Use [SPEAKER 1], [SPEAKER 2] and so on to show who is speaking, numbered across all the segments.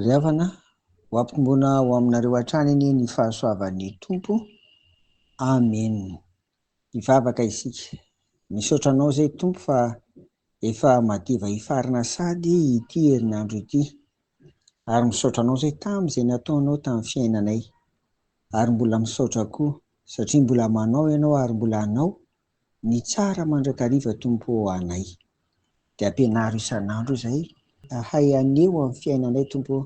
[SPEAKER 1] Ry havana, ho ampitomboina ho aminareo hatrany anie ny fahasoavan'ny Tompo. Amen. Hivavaka isika. Misaotra anao izay Tompo fa efa madiva hifarina sady ity herinandro ity. Ary misaotra anao izay tamin'izay nataonao tamin'ny fiainanay. Ary mbola misaotra koa. Satria mbola manao ianao ary mbola hanao ny tsara mandrakariva Tompo ô anay. Dia ampianaro isan'andro izay hahay haneho amin'ny fiainanay Tompo ô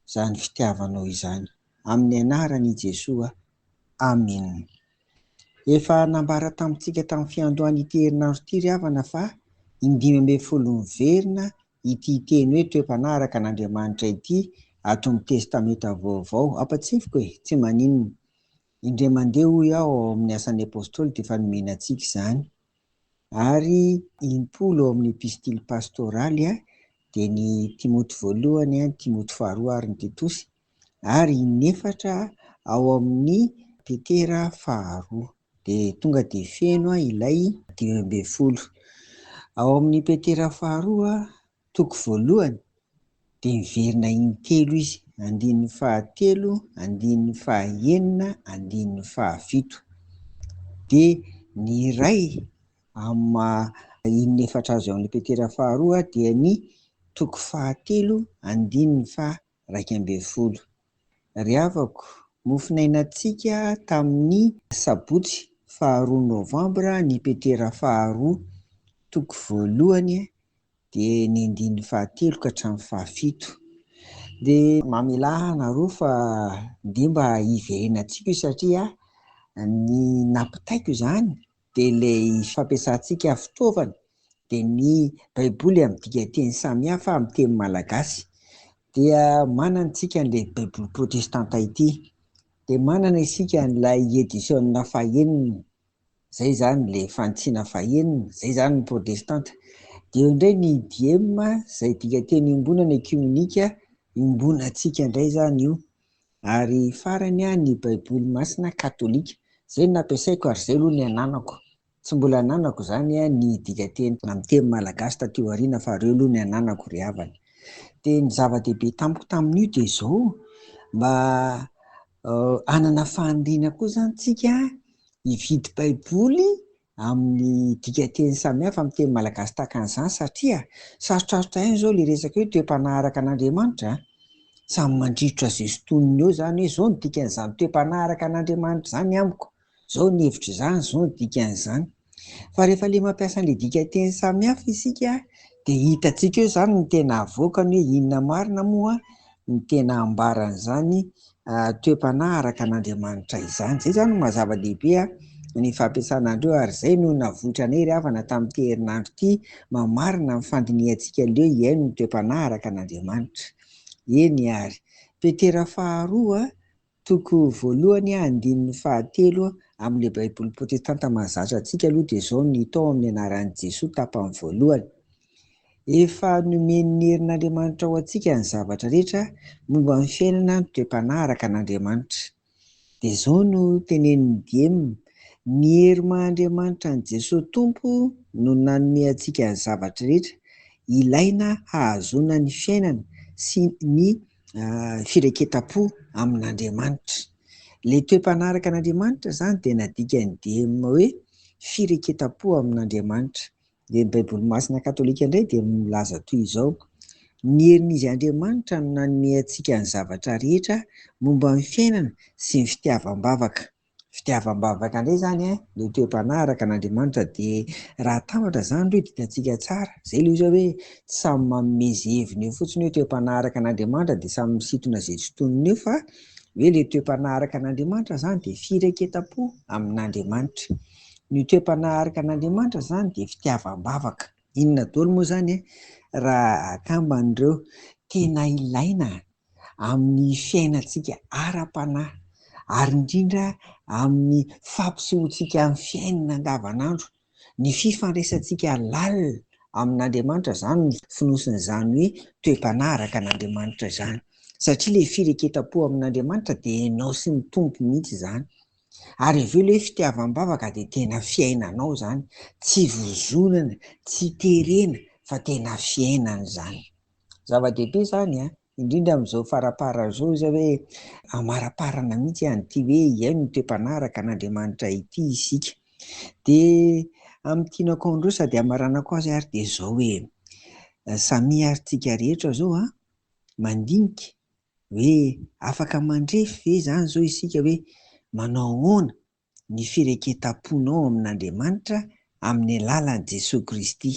[SPEAKER 1] izany fitiavanao izany. Amin'ny anaran' i Jesoa. Amen. Efa nambara tamintsika tamin'ny fiandohan' ity herinandro ity ry havana fa indimy ambin'ny folo miverina ity teny hoe toe-panaraka an' Andriamanitra ity ato amin'ny Testamenta Vaovao. Ampatsefoko e! Tsy maninona. Indray mandeha, hoy aho, ao amin'ny Asan'ny Apôstôly dia efa nomena antsika izany. Ary impolo ao amin'ny Epistily Pastôraly dia ny Timoty voalohany, ny Timoty faharoa ary ny Titosy, ary inefatra ao amin'ny Petera faharoa. Dia tonga dia feno ilay dimy ambin'ny folo. Ao amin'ny Petera faharoa Toko voalohany, dia miverina intelo izy, andininy fahatelo, andininy fahaenina, andininy fahafito. Dia ny iray amin'ny maha inona efatra azy ao amin'ny Petera faharoa dia ny toko fahatelo, andininy faha iraika ambin'ny folo. Ry havako, mofonainantsika tamin'ny sabotsy faharoa novambra ny Petera faharoa, toko voalohany dia ny andininy fahatelo ka hatramin'ny fahafito. Dia mamelà anareo fa dia mba hiverenantsika io satria ny nampitaiko izany dia ilay fampiasantsika fitaovana dia ny baiboly amin'ny dikanteny samihafa amin'ny teny malagasy dia manana isika an'ilay baiboly protestanta ity dia manana isika an'ilay edition fahenina zay zany ilay fanitsiana fahenina zay zany ny protestanta dia eo indray ny idiema izay dikanteny iombonana ekimenika iombonantsika indray zany io Ary farany an ny baiboly masina katolika. Zay no nampiasaiko ary zay aloha ny ananako. Tsy mbola ananako zany an ny dikateny amin'ny teny malagasy taty aoriana fa reo aloha ny ananako ry havana. Dia ny zava-dehibe tamiko tamin'io dia zao, mba hanana faniriana koa zany tsika hividy baiboly amin'ny dikanteny samihafa amin'ny teny malagasy tahaka an'izany satria sarotrarotra ihany izao ilay resaka hoe toe-panaraka an'Andriamanitra a! Samy mandrirotra izay sintoniny eo izany hoe izao no dikan'izany toe-panaraka an'Andriamanitra izany amiko, izao ny hevitro izany, izao no dikan'izany. Fa rehefa ilay mampiasa an'ilay dikanteny samihafa isika dia hitantsika eo izany ny tena avoakany hoe inona marina moa ny tena ambaran'izany toe-panahy araka an'Andriamanitra izany. Izay izany no maha zava-dehibe ny fampiasana an'ireo ary izay no navoitra anay ry havana tamin'ity herinandro ity mamarina ny fandinihantsika leo hihaino ny toe-panahy araka an'Andriamanitra. Eny ary. Petera faharoa Toko voalohany andininy fahatelo amin'ilay Baiboly protestanta mahazatra antsika aloha dia izao ny hita ao amin'ny anaran'i Jesoa tapany voalohany, Efa nomen'ny herin'Andriamanitra ho antsika ny zavatra rehetra momba ny fiainana mitre-panahy araka an'Andriamanitra. Dia izao no tenenin'i Diem, Ny hery maha Andriamanitra an'i Jesoa Tompo no nanome antsika ny zavatra rehetra ilaina hahazoana ny fiainana sy ny fireketam-po amin'Andriamanitra. Ilay toe-panaraka an'Andriamanitra izany dia nadika ny DM hoe fireketam-po amin'Andriamanitra. Dia ny Baiboly masina katolika indray dia milaza toy izao, ny herin'izy Andriamanitra no nanome antsika ny zavatra rehetra momba ny fiainana sy ny fitiavam-bavaka. fitiavam-bavaka indray izany eh, no toe-panaraka an'Andriamanitra dia raha atambatra izany ireo dikantsika tsara, izay ilay izy hoe tsy samy manome izay heviny eo fotsiny hoe toe-panaraka an'Andriamanitra dia samy misintona izay tsy tonony eo fa hoe ilay toe-panaraka an'Andriamanitra izany dia firaiketam-po amin'Andriamanitra. Ny toe-panaraka an'Andriamanitra izany dia fitiavam-bavaka. Inona daholo moa izany eh, raha akamban'ireo tena ilaina amin'ny fiainantsika ara-panahy ary indrindra amin'ny fampisehoantsika amin'ny fiainana andavanandro ny fifandraisantsika lalina amin'Andriamanitra, izany no fonosin'izany hoe toe-panahy araka an'Andriamanitra izany satria ilay fireketam-po amin'Andriamanitra dia ianao sy ny Tompo mihitsy izany ary avy eo ilay fitiavam-bavaka dia tena fiainanao izany, tsy vozonana, tsy terena fa tena fiainana izany. Zava-dehibe izany an, indrindra amin'izao faraparany izao izay hoe amaraparana mihitsy an'ity hoe hihaino ny toe-panaraka an'Andriamanitra ity isika. Dia amin'ny tianako an'ireo sady hamaranako azy ary dia izao hoe samia ary tsika rehetra izao an, mandinika hoe afaka mandrefy ve izany izao isika hoe manao ahoana ny fireketam-ponao amin'Andriamanitra amin'ny alalan'i Jesoa Kristy.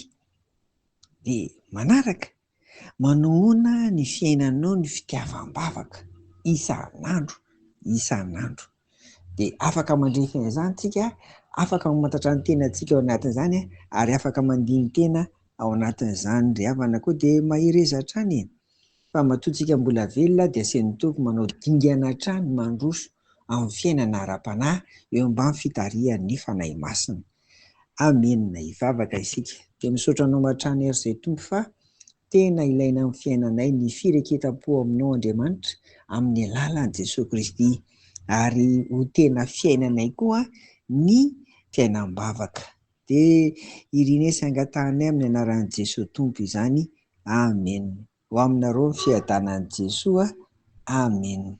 [SPEAKER 1] Dia manaraka, manohana ny fiainanao ny fitiavam-bavaka isan'andro isan'andro. Dia afaka mandrefy an'izany isika, afaka mamantatra ny tenantsika ao anatin'izany ary afaka mandini-tena ao anatin'izany ry havana koa dia mahereza hatrany e! Fa matoa tsika mbola velona dia aseho ny Tompo manao dingana hatrany mandroso amin'ny fiainana ara-panahy eo ambany fitarihan'ny Fanahy Masina. Amena. Hivavaka isika. Dia misaotra Anao hatrany ary Ray Tompo fa tena ilaina amin'ny fiainanay ny fireketam-po Aminao Andriamanitra amin'ny alalan'i Jesoa Kristy ary ho tena fiainanay koa ny fiainam-bavaka. Dia irine sy angatahanay amin'ny anaran'i Jesoa Tompo izany Amen. Ho aminareo ny fiadanan'i Jesoa Amen.